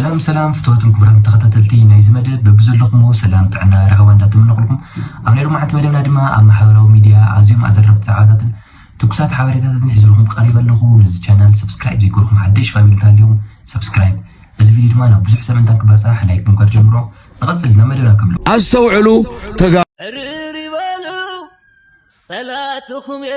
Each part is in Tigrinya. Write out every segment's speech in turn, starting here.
ሰላም ሰላም ፍትዋትን ክቡራትን ተኸታተልቲ ናይዚ መደብ በብዘለኹምዎ ሰላም ጥዕና ራህዋ እንዳተመነኹልኩም ኣብ ናይ ሎማዓንቲ መደብና ድማ ኣብ ማሕበራዊ ሚድያ ኣዝዮም ኣዘረብቲ ዛዕባታትን ትኩሳት ሓበሬታታትን ሒዝልኹም ቀሪበ ኣለኹ ነዚ ቻናል ሰብስክራይብ ዘይገርኩም ሓደሽ ፋሚሊ ተሃልዮም ሰብስክራይብ እዚ ቪድዮ ድማ ናብ ብዙሕ ሰብ እንታ ክባፃሕ ላይክ ብምጋር ጀምሮ ንቐፅል ናብ መደብና ከምሎ ኣስተውዕሉ ተጋ ርር ይበሉ ጸላትኹም እየ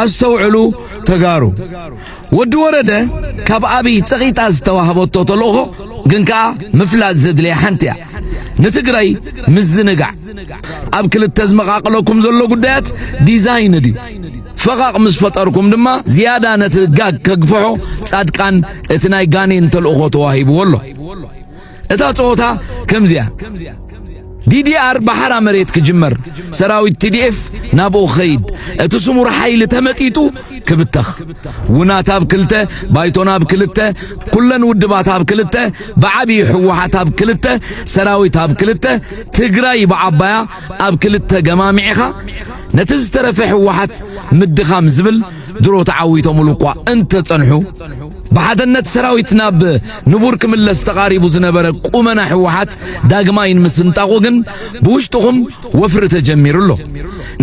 ኣስተውዕሉ ተጋሩ ወዲ ወረደ ካብ ኣብይ ጸቂጣ ዝተዋህበቶ ተልእኾ ግን ከኣ ምፍላጥ ዘድልያ ሓንቲ እያ ንትግራይ ምዝንጋዕ ኣብ ክልተ ዝመቃቅለኩም ዘሎ ጉዳያት ዲዛይን ድዩ ፈቓቕ ምስ ፈጠርኩም ድማ ዝያዳ ነቲ ጋግ ከግፍሖ ጻድቃን እቲ ናይ ጋኔን ተልእኾ ተዋሂብዎ ኣሎ እታ ጸወታ ከምዚያ ዲዲኣር ብሓራ መሬት ክጅመር ሰራዊት ቲዲኤፍ ናብኡ ክኸይድ እቲ ስሙር ሓይሊ ተመጢጡ ክብተኽ ውናት ኣብ ክልተ ባይቶና ኣብ ክልተ ኩለን ውድባት ኣብ ክልተ ብዓብዪ ሕወሓት ኣብ ክልተ ሰራዊት ኣብ ክልተ ትግራይ ብዓባያ ኣብ ክልተ ገማሚዕኻ ነቲ ዝተረፈ ሕወሓት ምድኻም ዝብል ድሮ ተዓዊቶምሉ እኳ እንተጸንሑ ብሓደነት ሰራዊት ናብ ንቡር ክምለስ ተቓሪቡ ዝነበረ ቁመና ህወሓት ዳግማይ ንምስንጣቑ ግን ብውሽጥኹም ወፍሪ ተጀሚሩ ኣሎ።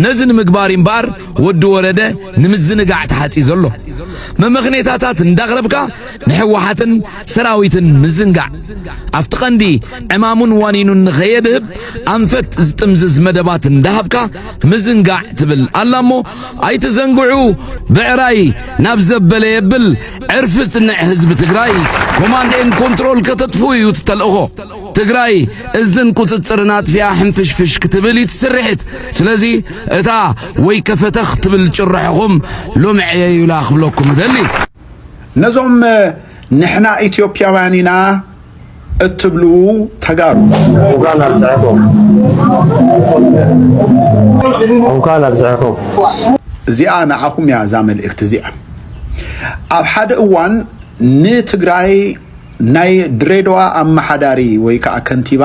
ነዚ ንምግባር እምበኣር ወዲ ወረደ ንምዝንጋዕ ተሓጺዞ ኣሎ። መመኽኔታታት እንዳቕረብካ ንህወሓትን ሰራዊትን ምዝንጋዕ ኣብቲ ቀንዲ ዕማሙን ዋኒኑን ንኸየድህብ ኣንፈት ዝጥምዝዝ መደባት እንዳሃብካ ምዝንጋዕ ትብል ኣላ እሞ ኣይትዘንግዑ ብዕራይ ናብ ዘበለ የብል ዕርፊ ጽንዕ ህዝቢ ትግራይ ኮማንድ ኤን ኮንትሮል ከተጥፍኡ እዩ እቲ ተልእኾ ትግራይ እዝን ቁፅፅርን ኣጥፊኣ ሕንፍሽፍሽ ክትብል እዩ ትስርሒት ስለዚ እታ ወይ ከፈተኽ ትብል ጭርሖኹም ሎሚ ዕየዩላ ክብለኩም እደሊ ነዞም ንሕና ኢትዮጵያውያን ኢና እትብሉ ተጋሩ እንኳን ኣብፀሐኩም እንኳን ኣብፀሐኩም እዚኣ ንዓኹም እያ እዛ መልእክቲ እዚኣ ኣብ ሓደ እዋን ንትግራይ ናይ ድሬዳዋ ኣመሓዳሪ ወይ ከዓ ከንቲባ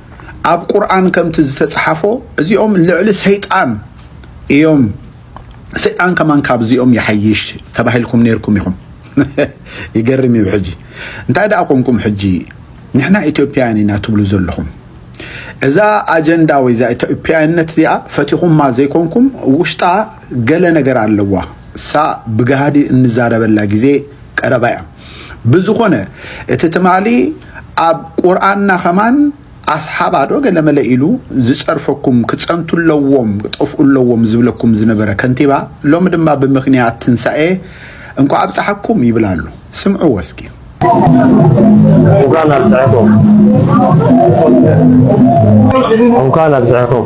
ኣብ ቁርኣን ከምቲ ዝተጽሓፎ እዚኦም ልዕሊ ሰይጣን እዮም ሰይጣን ከማን ካብዚኦም ይሓይሽ ተባሂልኩም ነይርኩም ኢኹም ይገርም እዩ ሕጂ እንታይ ደኣ ኮንኩም ሕጂ ንሕና ኢትዮጵያውያን ኢና ትብሉ ዘለኹም እዛ ኣጀንዳ ወይ እዛ ኢትዮጵያውያነት እዚኣ ፈቲኹማ ዘይኮንኩም ውሽጣ ገለ ነገር ኣለዋ እሳ ብጋህዲ እንዛረበላ ግዜ ቀረባ እያ ብዝኾነ እቲ ትማሊ ኣብ ቁርኣንና ከማን ኣስሓባ ዶ ገለመለ ኢሉ ዝጸርፈኩም ክጸንቱ ኣለዎም ክጠፍኡ ኣለዎም ዝብለኩም ዝነበረ ከንቲባ ሎሚ ድማ ብምክንያት ትንሳኤ እንኳ ኣብጽሓኩም ይብል ኣሎ ስምዕዎ እስኪ እንኳን ኣብፀሐኩም እንኳን ኣብፀሐኩም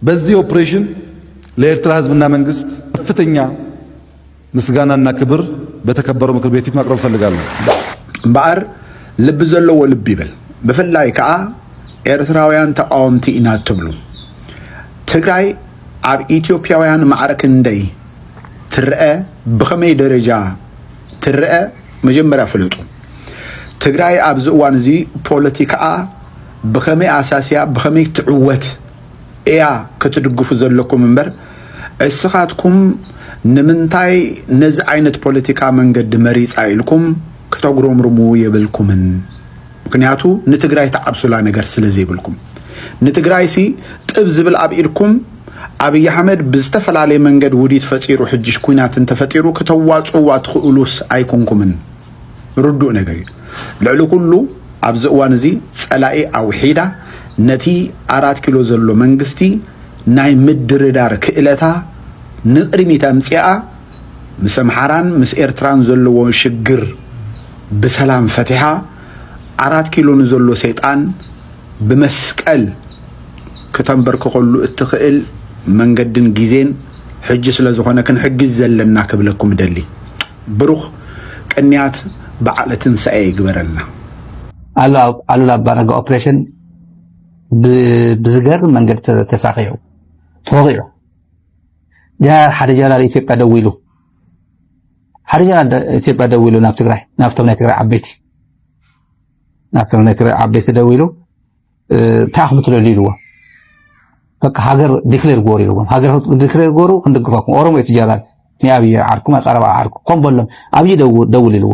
በዚህ ኦፕሬሽን ለኤርትራ ህዝብና መንግስት ከፍተኛ ምስጋናና ክብር በተከበረው ምክር ቤት ፊት ማቅረብ እፈልጋለሁ። እምበኣር ልቢ ዘለዎ ልቢ ይበል። ብፍላይ ከዓ ኤርትራውያን ተቃወምቲ ኢና እትብሉ ትግራይ ኣብ ኢትዮጵያውያን ማዕረ ክንደይ ትረአ፣ ብኸመይ ደረጃ ትረአ መጀመርያ ፍለጡ። ትግራይ ኣብዚ እዋን እዚ ፖለቲካኣ ብኸመይ ኣሳስያ ብኸመይ ትዕወት እያ ክትድግፉ ዘለኩም እምበር እስኻትኩም ንምንታይ ነዚ ዓይነት ፖለቲካ መንገዲ መሪፃ ኢልኩም ክተጉረምርሙ የብልኩምን ምክንያቱ ንትግራይ ትዓብሱላ ነገር ስለዘይብልኩም ንትግራይሲ ጥብ ዝብል ኣብ ኢድኩም ኣብይ ኣሕመድ ብዝተፈላለየ መንገድ ውዲት ፈጢሩ ሕጅሽ ኩናት እንተፈጢሩ ክተዋፅእዋ ትኽእሉስ ኣይኮንኩምን ርዱእ ነገር እዩ። ልዕሊ ኩሉ ኣብዚ እዋን እዚ ጸላኢ ኣውሒዳ ነቲ ኣራት ኪሎ ዘሎ መንግስቲ ናይ ምድርዳር ክእለታ ንቕድሚት ኣምጺኣ ምስ ኣምሓራን ምስ ኤርትራን ዘለዎ ሽግር ብሰላም ፈቲሓ ኣራት ኪሎ ንዘሎ ሰይጣን ብመስቀል ክተንበርክኸሉ እትኽእል መንገድን ግዜን ሕጂ ስለ ዝኾነ ክንሕግዝ ዘለና ክብለኩም እደሊ። ብሩኽ ቅንያት በዓለ ትንሳኤ ይግበረልና። ኣሉላ ኣባነጋ ኦፕሬሽን ብዝገርም መንገዲ ተሳኺዑ ተወቂዑ ጀነራል ሓደ ጀነራል ኢትዮጵያ ደው ኢሉ ሓደ ጀነራል ኢትዮጵያ ደው ኢሉ ናብ ትግራይ ናብቶም ናይ ትግራይ ዓበይቲ ናብቶም ናይ ትግራይ ዓበይቲ ደው ኢሉ እንታይ ኢኹም ትደልዩ ኢልዎም በቃ ሃገር ዲክሌር ጎሩ ኢልዎም ሃገር ዲክሌር ጎሩ ክንድግፈኩም ኦሮሞ እዩ ትጀራል ንኣብይ ዓርኩም ኣቀረባ ዓርኩ ከም በሎም ኣብይ ደውል ኢልዎ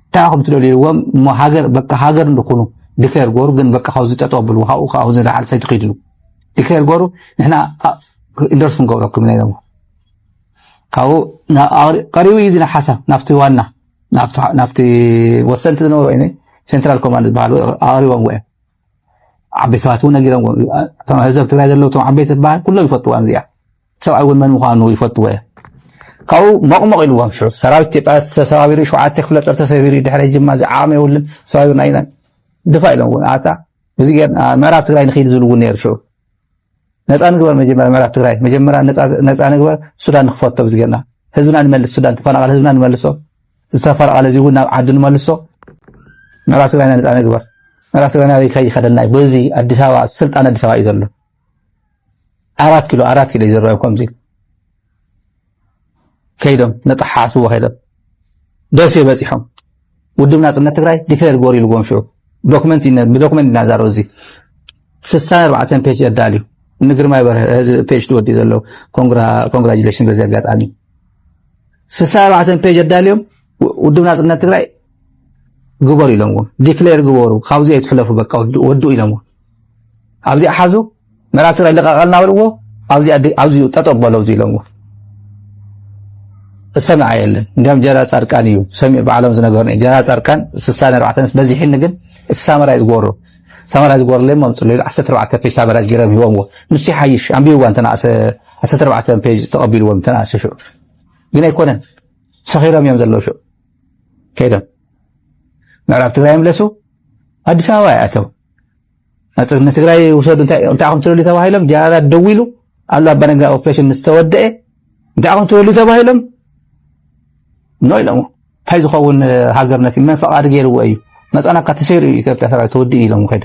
እንታይ ኢኹም ትደልዩ ኢልዎም እሞ ሃገር በቃ ሃገር ንኹኑ ዲክሌር ጎሩ ግን በቃ ካብዚ ጠጠው ኣብልዎ ካብኡ ካብኡ ዝለዓል ሰይቲ ክይድሉ ዲክሌር ጎሩ ንሕና ኢንዶርስ ክንገብረኩም ኢና ኢሎም ካብኡ ቀሪቡ እዩ እዚ ሓሳብ ናብቲ ዋና ናብቲ ወሰንቲ ዝነበሩ ይ ሴንትራል ኮማንድ ዝበሃሉ ኣቕሪቦም ወ ዓበይቲ ሰባት እውን ነጊሮም እቶም ህዘብ ትግራይ ዘለዉ እቶም ዓበይቲ ዝበሃል ኩሎም ይፈትዋ እዚኣ ሰብኣይ እውን መን ምኳኑ ይፈትዎ እየ ካብኡ መቕመቕ ኢልዎም ሽዑ ሰራዊት ኢትዮጵያ ተሰባቢሩ ሸውዓተ ክፍለ ጦር ተሰቢሩ ድሕሪ ጅማ እዚ ዓቕሚ የብሉን ተሰባቢሩና ኢና ድፋ ኢሎም እውን ኣታ እዚ ምዕራብ ትግራይ ንክይድ ዝብሉ እውን ነይሩ ሽዑ ነፃ ንግበር መጀመርያ ምዕራብ ትግራይ መጀመርያ ነፃ ንግበር ሱዳን ንክፈቶ ብዝገና ህዝብና ንመልስ ሱዳን ተፈናቀለ ህዝብና ንመልሶ ዝተፈናቀለ እዚ እውን ናብ ዓዱ ንመልሶ ምዕራብ ትግራይና ነፃ ንግበር ምዕራብ ትግራይና ኣበይ ከይ ይኸደና እዩ በዚ ኣዲስ ኣበባ ስልጣን ኣዲስ ኣበባ እዩ ዘሎ ኣራት ኪሎ ኣራት ኪሎ እዩ ዝረአዩ ከምዚ ከይዶም ነጠሓሓስዎ ከይዶም ደሴ በፂሖም ውድብ ናፅነት ትግራይ ዲክሌር ግበሩ ኢልዎም ሽዑ ዶክመንት ብዶክመንት ኢና ዛረብ እዚ ስሳ ኣርባዕተ ፔጅ ኣዳልዩ ንግርማይ በርሀ እዚ ፔጅ ትወዲኡ ዘለዉ ኮንግራጁሌሽን በዚ ኣጋጣሚ ስሳ ኣርባዕተ ፔጅ ኣዳልዮም ውድብ ናፅነት ትግራይ ግበሩ ኢሎምዎም ዲክሌር ግበሩ ካብዚ ኣይትሕለፉ በቃ ወድኡ ኢሎምዎም ኣብዚኣ ሓዙ ምዕራብ ትግራይ ልቀቀልና በልዎ ኣብዚኡ ጠጠቅ በሎ እዚ ኢሎዎ ዝሰምዐ የለን እንዲያም ጀነራል ፃድቃን እዩ ሰሚዑ ባዕሎም ዝነገሩኒ ጀነራል ፃድቃን ስሳ ኣርባዕተንስ በዚሕኒ ግን እቲ ሳመራ እዩ ዝጎሮ ሳመራ ዝጎሮ ለሞ ኣምፅሉ ኢሉ ዓሰርተ ኣርባዕተ ፔጅ ሳመራ ዝገረም ሂቦምዎ ንሱ ይሓይሽ ኣንቢብዋ እንተነኣሰ ዓሰርተ ኣርባዕተ ፔጅ ተቐቢልዎም እንተነኣሰ ሽዑ ግን ኣይኮነን ሰኺሮም እዮም ዘለዉ ሽዑ ከይዶም ምዕራብ ትግራይ ምለሱ ኣዲስ ኣበባ ይኣተው ንትግራይ ውሰዱ እንታይ ኢኹም ትደልዩ ተባሂሎም ጀነራላት ደው ኢሉ ኣሉ ኣባነጋ ኦፕሬሽን ምስ ተወደአ እንታይ ኢኹም ትደልዩ ተባሂሎም ኖ ኢሎሞ እንታይ ዝኸውን ሃገርነት እዩ መን ፈቓዲ ገይርዎ እዩ መፃናካ ተሰይሩ እዩ ኢትዮጵያ ሰራዊት ተወዲኡ ኢሎም ከደ